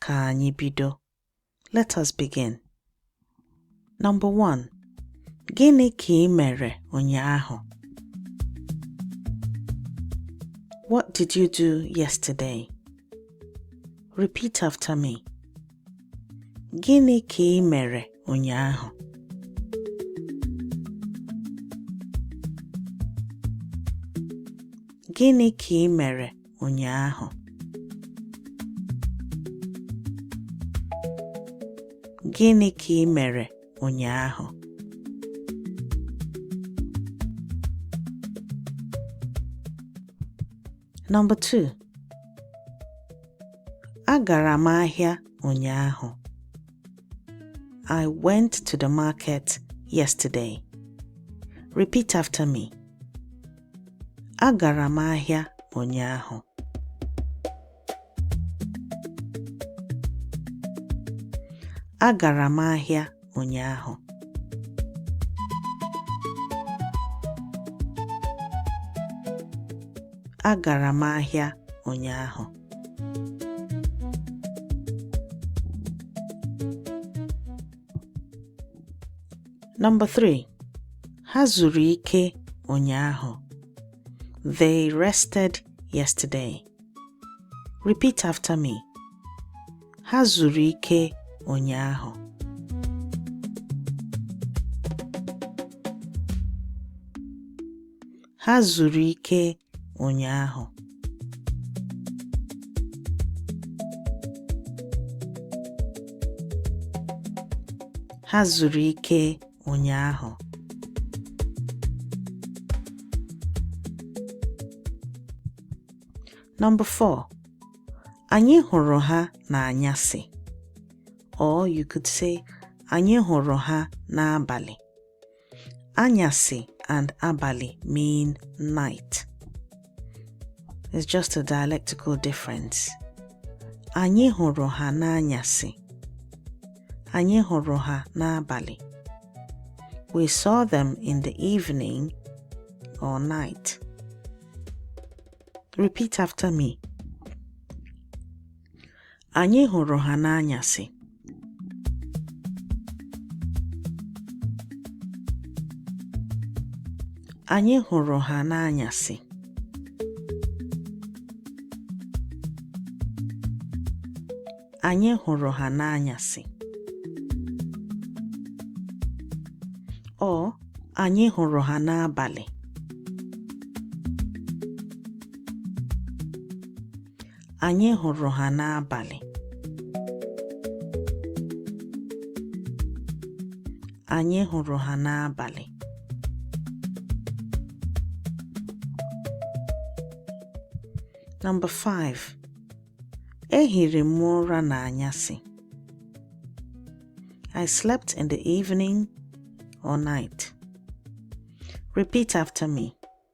Ka anyị bido. Let us begin. Number one, Gịnị ka ị mere ụnyaahụ? What did you do yesterday? Repeat after me. Gịnị ka ị mere ụnyaahụ? Gịnị ka ị mere ụnyaahụ gịnị ka ị mere ụnyaahụ Number 2. Agara m ahịa ụnyaahụ. I went to the market yesterday. Repeat after me. Agara m ahịa ụnyaahụ. Agara m ahịa ụnyaahụ. Agara m ahịa ụnyaahụ. Number 3. Ha zuru ike ụnyaahụ. They rested yesterday. Repeat after me. Ha zuru ike ụnyaahụ. Ha zuru ike ụnyaahụ. Ha zuru ike ụnyaahụ. Number 4. Anyị hụrụ ha n'anyasị. Or you could say, Anyị hụrụ ha n'abalị. Anyasị and abalị mean night. It's just a dialectical difference. Anyị hụrụ ha n'anyasị. Anyị hụrụ ha n'abalị. We saw them in the evening or night. Repeat after me. anyị hụrụ ha n'anyasị. Anyị hụrụ ha n'anyasị. Anyị hụrụ ha n'anyasị. Or anyị hụrụ ha n'abalị. anyị hụrụ ha n'abalị. Anyị hụrụ ha n'abalị. Number 5. Ehiri m ụra n'anyasị. I slept in the evening or night. Repeat after me.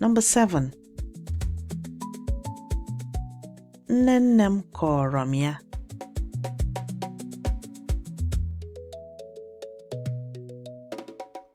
Number 7. Nne nne m kọọrọ m ya.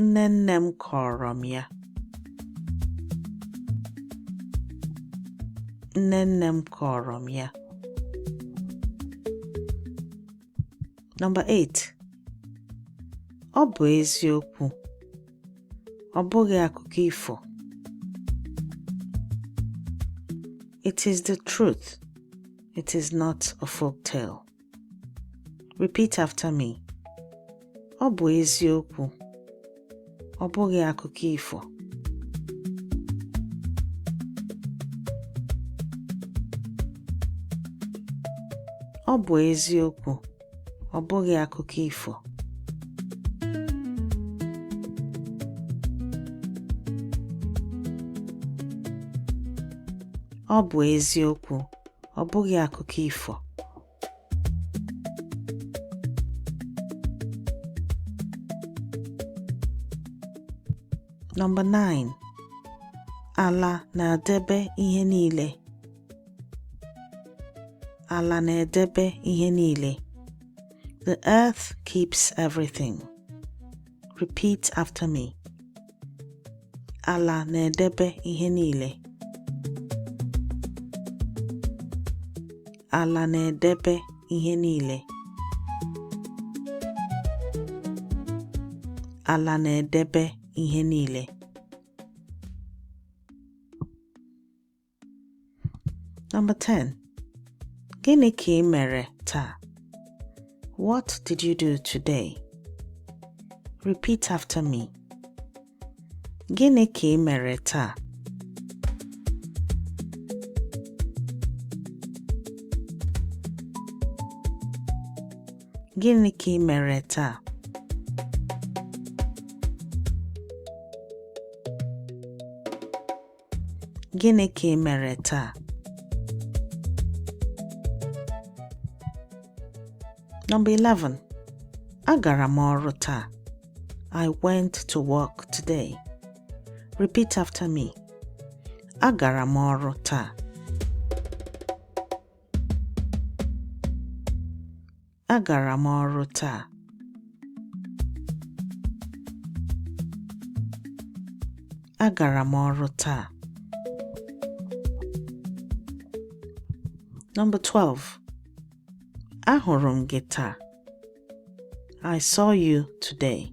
Nne nne m kọọrọ m ya. Nne nne m kọọrọ m ya. Number 8. Ọ bụ eziokwu. Ọ bụghị akụkọ ifo. It is the truth. It is not a folk tale. Repeat after me. Ọ bụ eziokwu. Ọ bụghị akụkọ ifo. Ọ bụ eziokwu. Ọ bụghị akụkọ ifo. Ọ bụ eziokwu. ọ bụghị akụkọ ifo Number 9 Ala na-edebe ihe niile Ala na-edebe ihe niile The earth keeps everything. Repeat after me. Ala na-edebe ihe niile. Ala na-edebe ihe niile. Ala na-edebe ihe niile. Number 10. Gịnị ka i mere taa? What did you do today? Repeat after me. Gịnị ka i mere taa? Gịnị ka i mere taa? Gịnị ka ị mere taa? Number 11. Agara m ọrụ taa. I went to work today. Repeat after me. Agara m ọrụ taa. Agara m ọrụ taa. Agara m ọrụ taa. Number 12. Ahụrụ m gị taa. I saw you today.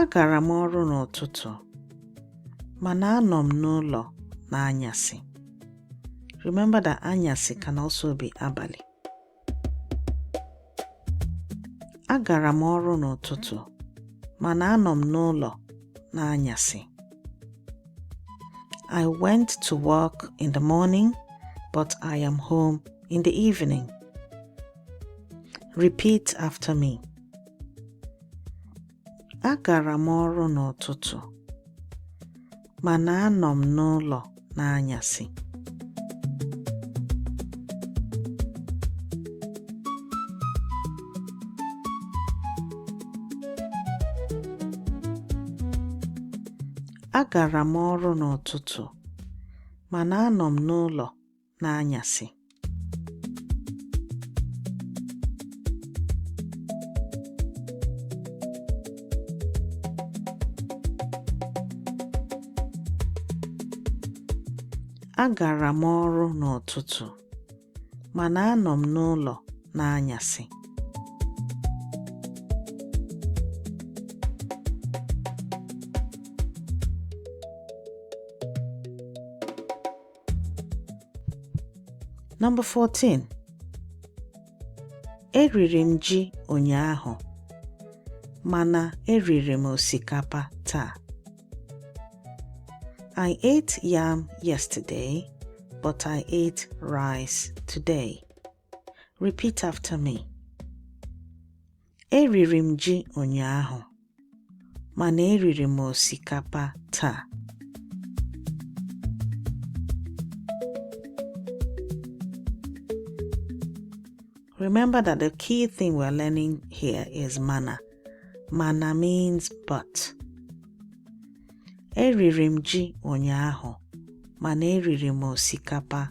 Agara m ọrụ n'ụtụtụ, mana anọ m n'ụlọ n'anyasị. Remember that anyasị can also be abalị. Agara m ọrụ n'ụtụtụ, mana anọ m n'ụlọ n'anyasị. I went to work in the morning, but I am home in the evening. Repeat after me. Agara m ọrụ n'ụtụtụ, mana anọ m n'ụlọ n'anyasị. Agara m ọrụ n'ụtụtụ, mana anọ m n'ụlọ n'anyasị. Agara m ọrụ n'ụtụtụ, mana anọ m n'ụlọ n'anyasị. Number 14. Eriri m ji ụnyaahụ mana eriri m osikapa taa. I ate yam yesterday, but I ate rice today. Repeat after me. Eriri m ji ụnyaahụ, mana eriri m osikapa taa. Remember that the key thing we're learning here is mana. Mana means but. Eriri m ji ụnyaahụ, mana eriri m osikapa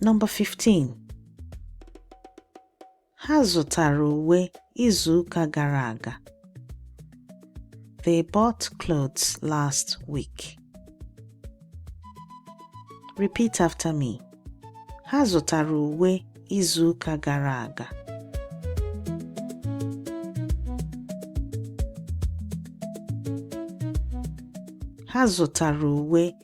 Number 15. Ha zụtara uwe izu ụka gara aga. They bought clothes last week. Repeat after me. Ha zụtara uwe izu ụka gara aga. Ha zụtara uwe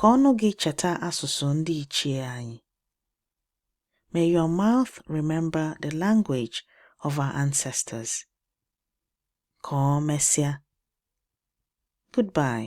Ka ọnụ gị cheta asụsụ ndị ichie anyị. May your mouth remember the language of our ancestors. Ka ọ mesịa. Goodbye.